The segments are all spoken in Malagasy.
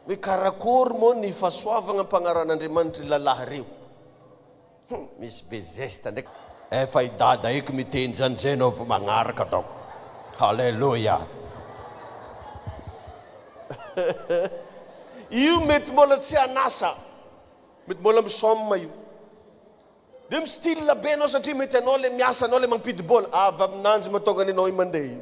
Hoe karakory moa ny fasoavagna ampagnaran'Andriamanitry ry lalahy reo? Hum misy be zesta ndraiky. Efa i dada eky miteny zany zay anao vo magnaraka donc haleloia io mety mbola tsy an'asa mety mbola misôma io de mi style be anao satria mety anao le miasa anao le mampidi bola avy aminanjy matonga ny anao i mandeha io.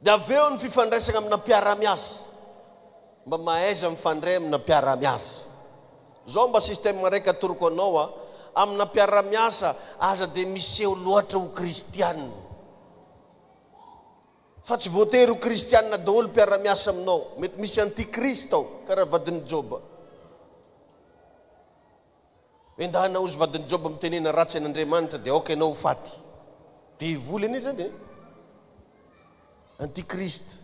Dia avy eo ny fifandraisana amina mpiara-miasa. Mba mahaiza mifandray amina mpiara-miasa. Zao mba système raiky atoroko anao a, amina mpiara-miasa aza dia miseho loatra ho kristiana. Fa tsy voatery ho kristiana daholo mpiara-miasa aminao. Mety misy anti-krist ao, karaha vadin'i Joba. Endahina ozy vadin'i Joba mitenena ratsy an'Andriamanitra dia aoka ianao ho faty. Devoly anie zany e. Antichrist.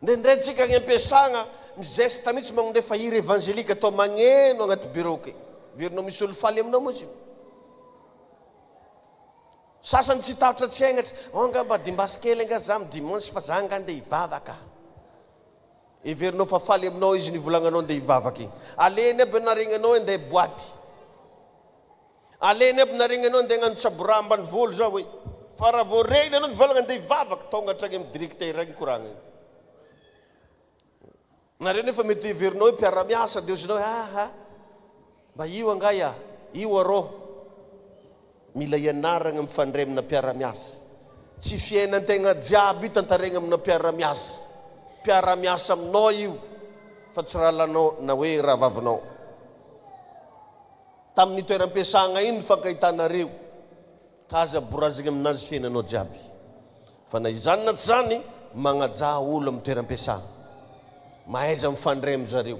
Indraindray tsika any ampiasagna mizesta mitsy magnondefa hira evangelika atao magneno agnaty bureau ke. Verinao misy olo faly aminao moa tsy. Sasany tsy tahotra tsy aignatra, oh nga mba dimbasy kely nga za am dimanche fa za nga ndeha hivavaka. Heverinao fa faly aminao izy nivolagnanao ndeha hivavaka igny. Alehany aby ny naregnanao hinday boaty. Alehany aby ny naregnanao hinday hagnano tsaboraha ambanivolo za hoe. Fa raha vao reny anao nivolagna ndeha hivavaka, tonga hatragny amin'ny direktera agny koragna igny. Nareo nefa mety ho heverinao hoe mpiara-miasa, dia hozy nao hoe, aha. Mba io angaha ia? Io arô? Mila ianaragna mifandray amina mpiara-miasa. Tsy fiainan-tegna jiaby io tantaregna amina mpiara-miasa. Mpiara-miasa aminao io fa tsy rahalahinao na hoe rahavavinao. Tamin'ny toeram-piasagna ino nifankahitanareo ka aza borazigny aminazy fiainanao jiaby. Fa na izany na tsy zany magnajà olo amin'ny toeram-piasagna. Mahaiza mifandray amy zareo.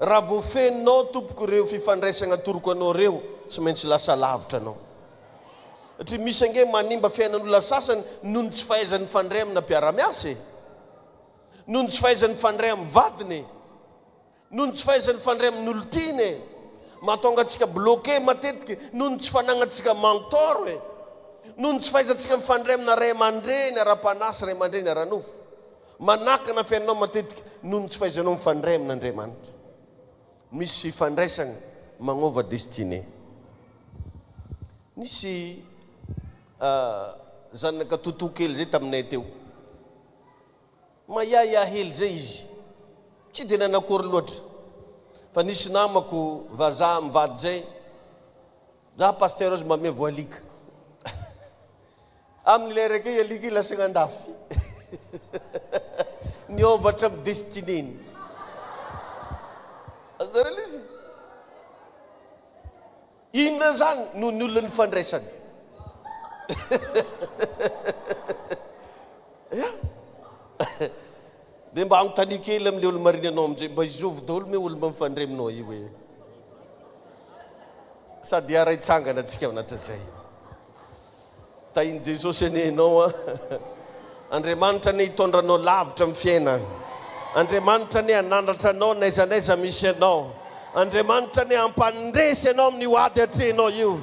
Raha voafehinao tompoko ireo fifandraisagna atoroko anao ireo tsy maintsy lasa lavitra anao satria misy ange manimba fiainan'olona sasany noho ny tsy fahaizany mifandray amina mpiara-miasa e! noho ny tsy fahaizany mifandray amin'ny vadiny e! noho ny tsy fahaizany mifandray amin'olon-tiany e! mahatonga antsika bloqué matetika noho ny tsy fanagnantsika mentor e! noho ny tsy fahaizantsika mifandray amina ray aman-dreny ara-panahy sy ray aman-dreny ara-nofo Manakana fiainanao matetika noho ny tsy fahaizanao mifandray amin' Andriamanitra. Misy fifandraisana magnova destinée. Nisy zanaka Toto kely zay taminay teo. Mahiahiahy hely zay izy. Tsy dia nanakory loatra. Fa nisy namako vazaha mivady zay, Za Pasteur aza mba ameo voalika. Amin'ilay reggae alika iny lasaina andafy niôva hatramin'ny destinée-ny. Azonareo ilay izy? Inona izany no ny olona nifandraisany? Ya! Dia mba anontania kely amin'ilay olo-marina anao amin'izay, mba izôvy daholo moa olona mifandray aminao io e? Sady hiara-hitsangana antsika ao anatin'izay. Tahin'i Jesosy anie ianao an! Andriamanitra anie hitondra anao lavitra amin'ny fiainana. Andriamanitra anie hanandratra anao n'aiza n'aiza misy anao. Andriamanitra anie hampandresy anao amin'io ady atrehinao io.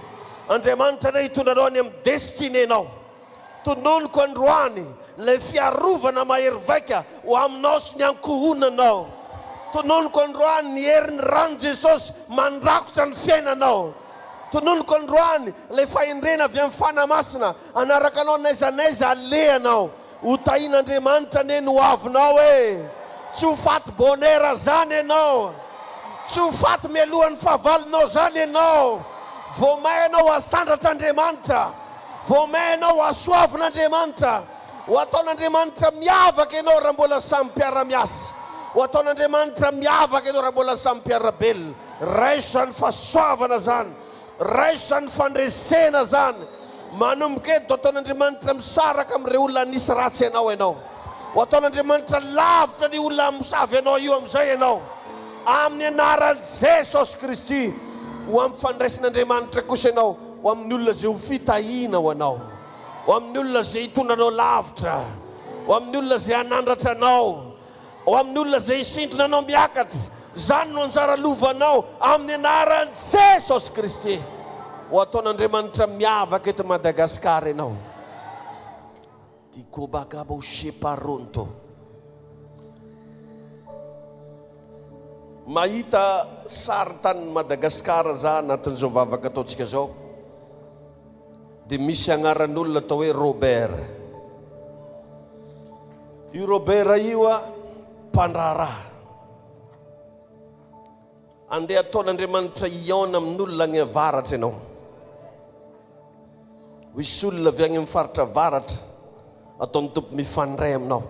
Andriamanitra anie hitondra anao any amin'ny destinenao. Tononiko androany ilay fiarovana mahery vaika ho aminao sy ny ankohonanao. Tononiko androany ny herin'ny ran'i Jesosy mandrakotra ny fiainanao. Tononiko androany ilay fahendrena avy amin'ny Fanahy Masina hanaraka anao n'aiza n'aiza alehanao. Ho tahin'Andriamanitra anie ny hoavinao e! Tsy ho faty bonheur zany ianao. Tsy ho faty mialohan'ny fahavalonao zany ianao. Vao may ianao hasandratr'Andriamanitra. Vao may ianao hasoavin'Andriamanitra. Ho ataon'Andriamanitra miavaka ianao raha mbola samy mpiara-miasa. Ho ataon'Andriamanitra miavaka ianao raha mbola samy mpiara-belona. Raisa ny fahasoavana zany, raisa ny fandresena zany, manomboka eto dia ataon'Andriamanitra misaraka amin'ireo olona nisy ratsy anao ianao, ho ataon'Andriamanitra lavitra an'io olona misavy anao io amin'izay ianao, amin'ny anaran'i Jesosy Kristy, ho ampifandraisin'Andriamanitra kosa ianao ho amin'ny olona izay ho fitahiana ho anao, ho amin'ny olona izay hitondra anao lavitra, ho amin'ny olona izay hanandratra anao. Ao amin'ny olona izay hisintona anao miakatra, izany no anjara lovanao amin'ny anaran'i Jesosy Kristy. Ho ataon'Andriamanitra miavaka eto Madagasikara ianao. Dikobagabo sheparonto. Mahita sarintany ny Madagasikara za anatin'izao vavaka ataontsika izao. Dia misy agnaran'olona atao hoe Robert. Io Robert io a, mpandraharaha. Andeha ataon'Andriamanitra hihaona amin'olona agny avaratra ianao. Hoisy olona avy agny amin'ny faritra avaratra, ataon'ny Tompo mifandray aminao.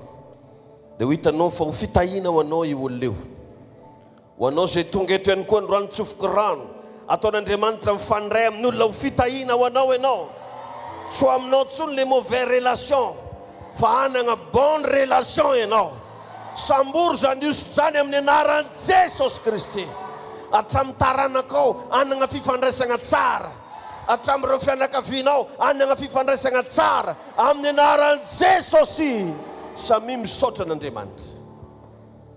Dia ho hitanao fa ho fitahiana ho anao io olona io. Ho anao izay tonga eto ihany koa androany tsofoky rano ataon'Andriamanitra mifandray amin'olona ho fitahiana ho anao ianao tsy ho aminao tsony le mauvais relation fa hanagna bonne relation ianao sambory zany hosotra zany amin'ny anaran'i Jesosy Kristy hatramin'ny taranakao hanagna fifandraisagna tsara hatramin'ireo fianakavianao hanagna fifandraisagna tsara amin'ny anaran'i Jesosy samia misaotra an'Andriamanitra.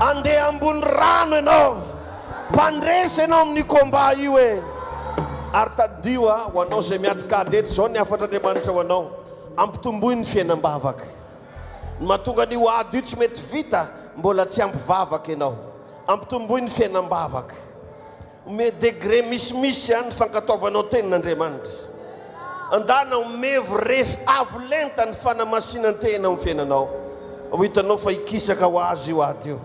Andeha ambony rano ianao, mpandresy ianao amin'io combat io e! Ary tadidio a, ho anao izay miatrikady eto, izao ny hafatr'Andriamanitra ho anao, ampitomboy ny fiainam-bavaka. Ny mahatonga an'io ady io tsy mety vita, mbola tsy ampy vavaka ianao. Ampitomboy ny fiainam-bavaka. Omeo degré misimisy an ny fankatoavanao tenin' Andriamanitra. Andana omevo ref avo lenta ny fanamasinan-tena ho fiainanao. Ho hitanao fa hikisaka ho azo io ady io.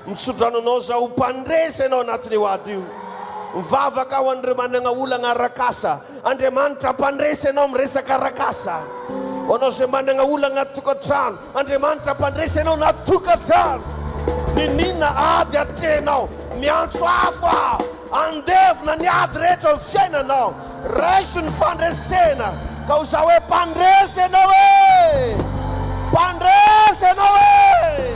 Mitsodrano anao za ho mpandresy anao anatin' io ady io. Mivavaka ho an'ireo managna olagna arak'asa. Andriamanitra hampandresy anao miresaka arak'asa. Ho anao izay managna olagna ato-tokantrano, Andriamanitra mpandresy anao na tokantrano niniana ady atrehinao miantso afo aho handevona ny ady rehetra eo fiainanao raiso ny fandresena ka ho za hoe mpandresy anao e mpandresy anao e.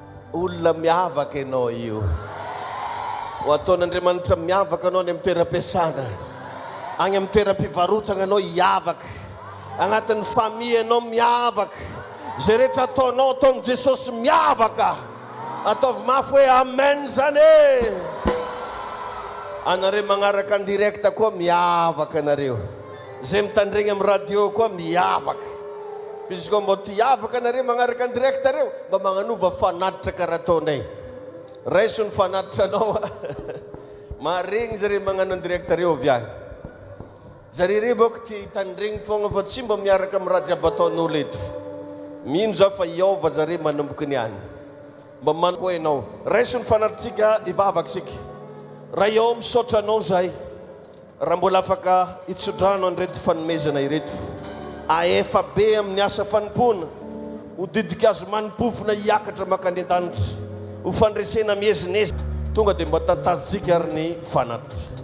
Olona miavaka ianao io. Ho ataon'Andriamanitra miavaka anao any amin'ny toeram-piasana. Any amin'ny toeram-pivarotana ianao hiavaka. Agnatin'ny famille ianao miavaka. Izay rehetra ataonao, ataon'i Jesosy miavaka. Ataovy mafy hoe Amen izany e! Anareo magnaraka en direct koa miavaka nareo. Zay mitandregny am radio koa miavaka fa izy koa mbô ty avaka nareo magnaraka an direct reo mba magnanova fanatitra kara ataonay raiso ny fanatitra anao a maharegny zare magnano an direct reo avy agny zare reo bôka tia hitandregny fôgna fa tsy mba miaraka am raha jiaby ataonolo eto mino za fa hiôva zare manomboky ny any mba man koa enao raiso ny fanatitsika hivavaka isika ray ô misaotra anao zahay. Raha mbola afaka hitso-drano an'ireto fanomezana ireto, ahefa be amin'ny asa fanompoana, ho didik-azo manim-pofona hiakatra mankany an-danitra, ho fandresena miezinezina, tonga dia mba tantazin-tsika ary ny fanatri.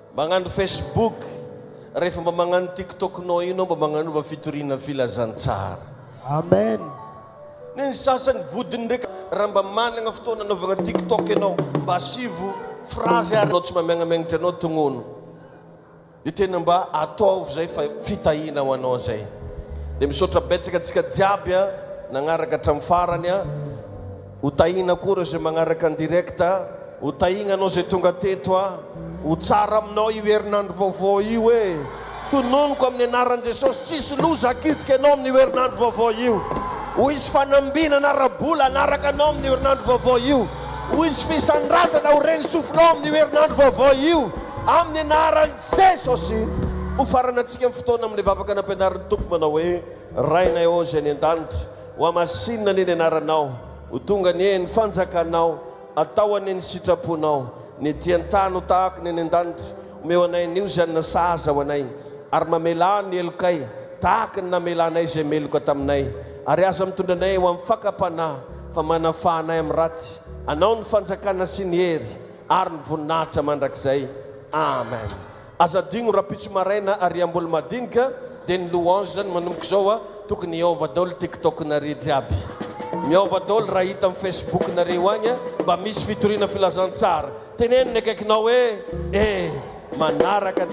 Magnano Facebook, rehefa mba magnano tiktok nao io nao mba magnanova fitoriana filazantsara. Amen. Ny an'ny sasany vodiny ndraika raha mba managna fotoana anaovagna tiktok ianao mba asivo phrase ary anao tsy mba miagnamiagnatra anao tognono de tena mba ataovo zay fa fitahina ho anao zay de misaotra betsaka antsika jiaby a nagnaraka hatramin'ny farany a. Ho tahina koa ireo izay magnaraka ny direct a! Ho tahigna anao izay tonga teto a! Ho tsara aminao io herinandro vaovao io e! Tononiko amin'ny anaran'i Jesosy, tsisy loza hakitika anao amin'io herinandro vaovao io! Ho hisy fanambinana ara-bola hanaraka anao amin'io herinandro vaovao io! Ho hisy fisandratana ho ren'ny sofinao amin'io herinandro vaovao io! Amin'ny anaran'i Jesosy! Hofaranantsika ny fotoana amin'ilay vavaka nampianarin'ny Tompo manao hoe, Rainay ô Izay any an-danitra, Ho hamasinina anie ny anaranao, ho tonga anie ny fanjakanao, atao anie ny sitraponao, ny ety an-tany ho tahaka ny any an-danitra, omeo anay anio izany nasahaza ho anay, ary mamelà ny helokay tahaka ny namelanay izay meloka taminay, ary aza mitondra anay ho amin'ny fakam-panahy, fa manafaha anay amin'ny ratsy, anao ny fanjakana sy ny hery ary ny voninahitra mandrakizay. Amen. Aza adigno rapitso maraina ary amboly madinika de ny louange zany manomboka izao a tokony hiaova daoly tiktok nare jiaby miaova daoly raha hita am facebook nare io agny mba misy fitoriana filazantsara teneno ny akaikinao e eh manaraka